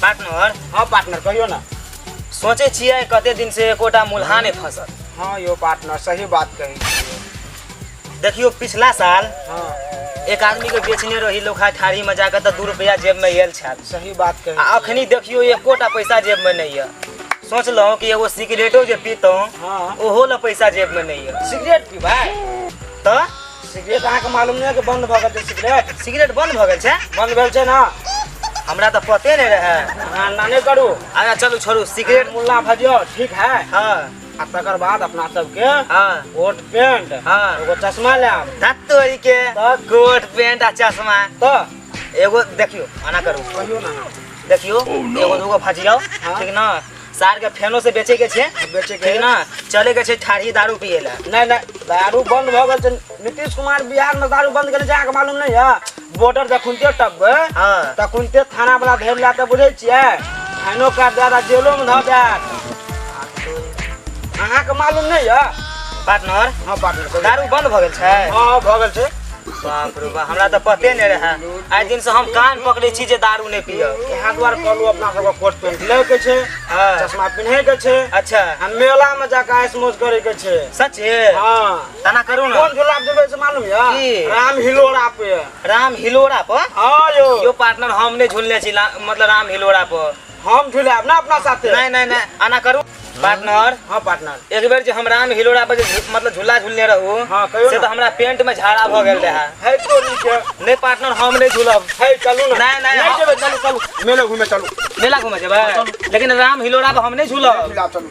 Partner हाँ partner कहियो ना सोचे छियै कते दिन से एकोटा मुल्हा नहि फंसल हाँ यो पार्टनर सही बात कही छियै। देखियो पिछला साल हाँ एक आदमी के बेचने रही लोखा ठारी में जाकर तऽ दू रुपया जेब में आयल छल सही बात कही आ अखनी देखियो एकोटा पैसा जेब में नहीं है सोचलहुँ कि एगो सिगरेटो जे पीतहुँ हाँ ओहो ला पैसा जेब में नहीं है सिगरेट पीबै तऽ सिगरेट अहाँके मालूम नहि है कि बंद भऽ गेल छै सिगरेट सिगरेट बंद भऽ गेल छै बंद भेल छै ना हमरा तऽ पते नहि रहै अहाँ ना नहि करू अच्छा चलू छोड़ू सिगरेट मुल्ला भजियो ठीक है हाँ आ तकर बाद अपना सबके हाँ कोट पेंट हाँ एगो चश्मा लायब धत्तोरी के तऽ कोट पेंट आ चश्मा तऽ एगो देखियो आना करू कहियो ना देखियो एगो दूगो भजियो हाँ। ठीक ना सार के फेनो से बेचे के छै बेचे के ठीक ना चले के छै ठाढ़ी दारू पिए ला नहीं नहीं दारू बंद भ गेल छै नीतीश कुमार बिहार में दारू बंद केने छै अहाँके मालूम नहीं है बॉर्डर जखुनते टपबे हाँ तखुनते थाना वाला धरि ला के बुझे छियै फाइनो काट दे आ जेलो में धऽ दे अहाँके मालूम नहीं है पार्टनर हाँ पार्टनर दारू बंद भऽ गेल छै हाँ हाँ भऽ गेल छै बाप रे बाप हमरा तऽ पते नहि रहए आइ दिनसँ हम कान पकड़ै छी जे दारू नहि पियब इएह दुआरे कहलहुँ अपना सबके कोट पेंट लै के छै हाँ। चश्मा पिन्हे के छै अच्छा आ मेला में जाके आइस मौज करे के छै सच है हाँ तना करू ने कोन झूला पे जेबै से मालूम की? यऽ राम हिलोरा पे राम हिलोरा पर हाँ यौ यो पार्टनर हम नहि झुलने छी ला- मतलब राम हिलोरा पर हम झुलाएब ना अपना साथे नहीं नहीं नहीं आना करू पार्टनर हां पार्टनर एक बेर जे हम राम हिलोड़ा पर जे झु- मतलब झूला झूलने रहू हाँ, कहियो से ना। तो हमरा पेंट में झाड़ा भ गेल रहा है तो नहीं के नहीं पार्टनर हम नहीं झूलब है चलू ना नहीं, नहीं, हम- जेबे चलू चलू मेले घूमे चलू मेला घूमे जेबै लेकिन राम हिलोड़ा पर हम नहीं झूलब झुलाएब चलू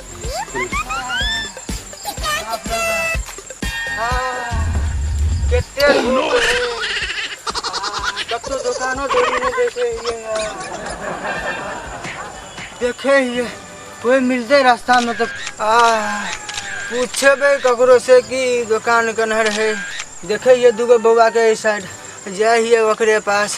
कते धूप रहै कतहु दोकानो दौरी नहि देखे हियै देखे हियै कोइ मिलतै रास्तामे तऽ आ पूछेबै ककरो से कि दोकान केना रहै देखे हियै दूगो बौआके एहि साइड जाइ हियै ओकरे पास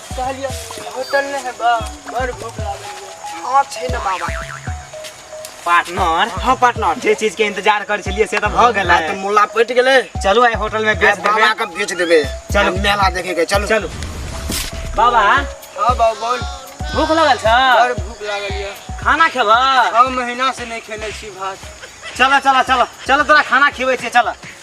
कहलिए होटल नहीं है बा बड़ भूख लागल है हां छै ना बाबा पार्टनर हां पार्टनर जे चीज के इंतजार कर छलिए से तो भ गेल है तो मुल्ला पट गेले चलू आइ होटल में बेच देबे बाबा के बेच देबे चलू मेला देखे के चलू चलू बाबा हां बाबा बोल भूख लागल छ बड़ भूख लागल है खाना खेबा हां महीना से नहीं खेले छी भात चला चला चला चला तोरा खाना खिबै छै चला